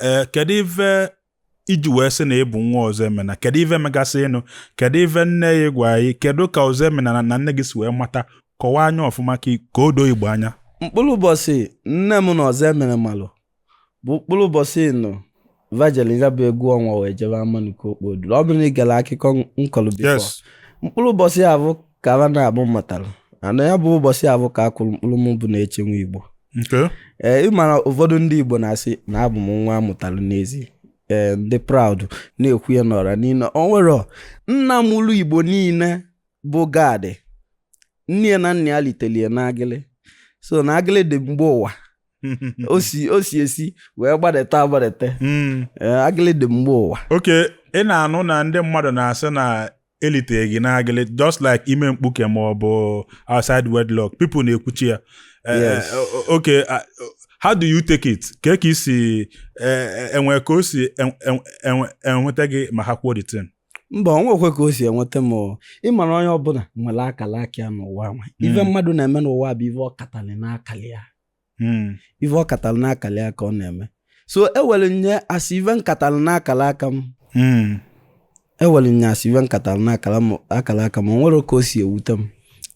ee kedu ife i ji wee sị na ị bụ nwa ọzọemena kedu ife megasịnụ kedu ife nne gị gwa gị kedu ka ọzọemena na nne gị si wee mata kọwaa ya ọfụma ka ka o doo igbo anya mkpụrụ ụbọchị nne m na ọzọemene malụ bụ mkpụrụ ụbọchị na va jelụ ya bụ egwu ọnwa wee jebe amanuke okpoduru ọ bụrụ na ị gere akụkọ m kọlụ before yes mkpụrụ ụbọchị ya bụ ka ha naabọ matara ana ya bụ ụbọchị ahụ ka a kụrụ mkpụrụ m bụ neche nwa igbo ee ị mara ụfọdụ ndị igbo na-asị na abụ m nwa a mụtara n'ezi ee ndị proud na-ekwu ya n'ọra niile o nwere nna mụlụ igbo niile bụ gad nne ya na nna ya litelụ ya n'agịlị so na agịlị dị mgbe ụwa o si o si esi wee gbadata agbadata hmm. eh, agịlị dị mgbe ụwa okay ị na-anụ na ndị mmadụ na-asị na elitere gị n'agịlị just like ime mkpuke ma ọ bụ outside wedlock people na-ekwuchi ya eh, eh, okay ah, how do you take it ka ka i si eh, ewe ka o si ewute gị ma ha kwuo the thing mba onwekwe ka o si ewute m ị mara onye ọbụla nwere akala aka ya n'ụwa nwa ife hmm. mmadụ na-eme n'ụwa bụ ife ọ katalụ n'akala ya hmm. ife ọ katara n'akala ya ka ọ na-eme so ewere m ya as ife m katara n'akara aka m hmm. ewere m ya as ife m katara n'akara aka m o nwerọ ka o si ewute m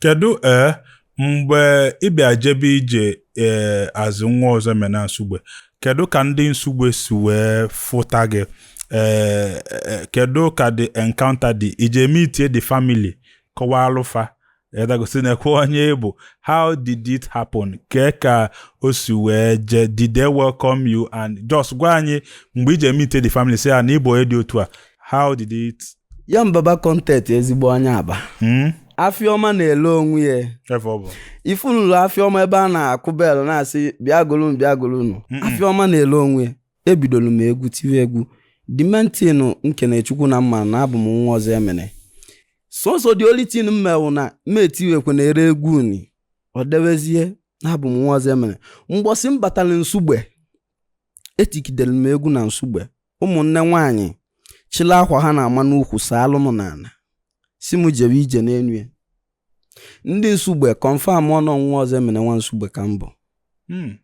kedu ee eh, mgbe ị bịa jebe ije ee eh, as nwa ọzọemena nsugbe kedu ka ndị nsugbe si wee fụta gị ee eh, kedu ka the encounter dị ije meet the family kọwaalụ fa edagosi na-ekwu onye ị bụ how did it happen kee ka o si wee jee did they welcome you and just gwa anyị mgbe ị je meetie the family sị ya na ị bụ onye dị otu a how did it ya mbaba content ezigbo onye aba hmm? afịa ọma na-ele onwe ya ị fụnụlụ afịa ọma ebe a na-akụ bell na-asị bịa golunu bịa golunu afịa ọma na-ele onwe ya ebidoro m egwu tiwe egwu the main thing nkene chukwu na m ma na abụ m nwa ọzọemene so so the only thing m me wụ na m etiwekwe na ere egwu uni o dowezie na abụ m nwa ọzọemene mgbọsị m batara nsugbe etikidere m egwu na nsugbe ụmụnne nwaanyị chịla akwa ha na-ama n'ukwu saalụ m n'ala sị m jebe ije n'elu ya ndị nsugbe confirm na nwa ọzọemene nwa nsugbe ka m bụ Hmm.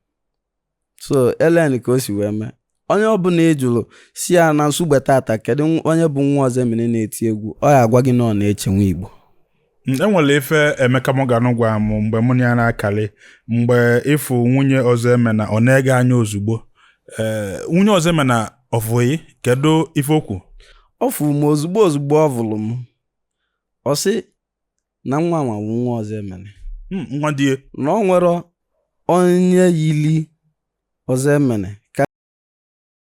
so elen ka o si wee mee onye ọbụla ị jụrụ sị ya na nsugbe tata kedu nw- onye bụ nwa ọzọemene na-eti egwu ọ ya-agwa gị na ọ neche nwa igbo Mm, enwere ife emeka morgan gwara m mgbe mụ na ya na-akali mgbe ị fụ nwunye ọzọemena ọ nee gị anya ozugbo ee nwunye ọzọemena ọ fụ gị kedu ife o kwu ọ fụrụ m ozugbo ozugbo ọ vụrụ m ọ sị na nwa nwa bụ nwa ọzọemene hmm, nwa di ya na o nwere onye yili ọzọemene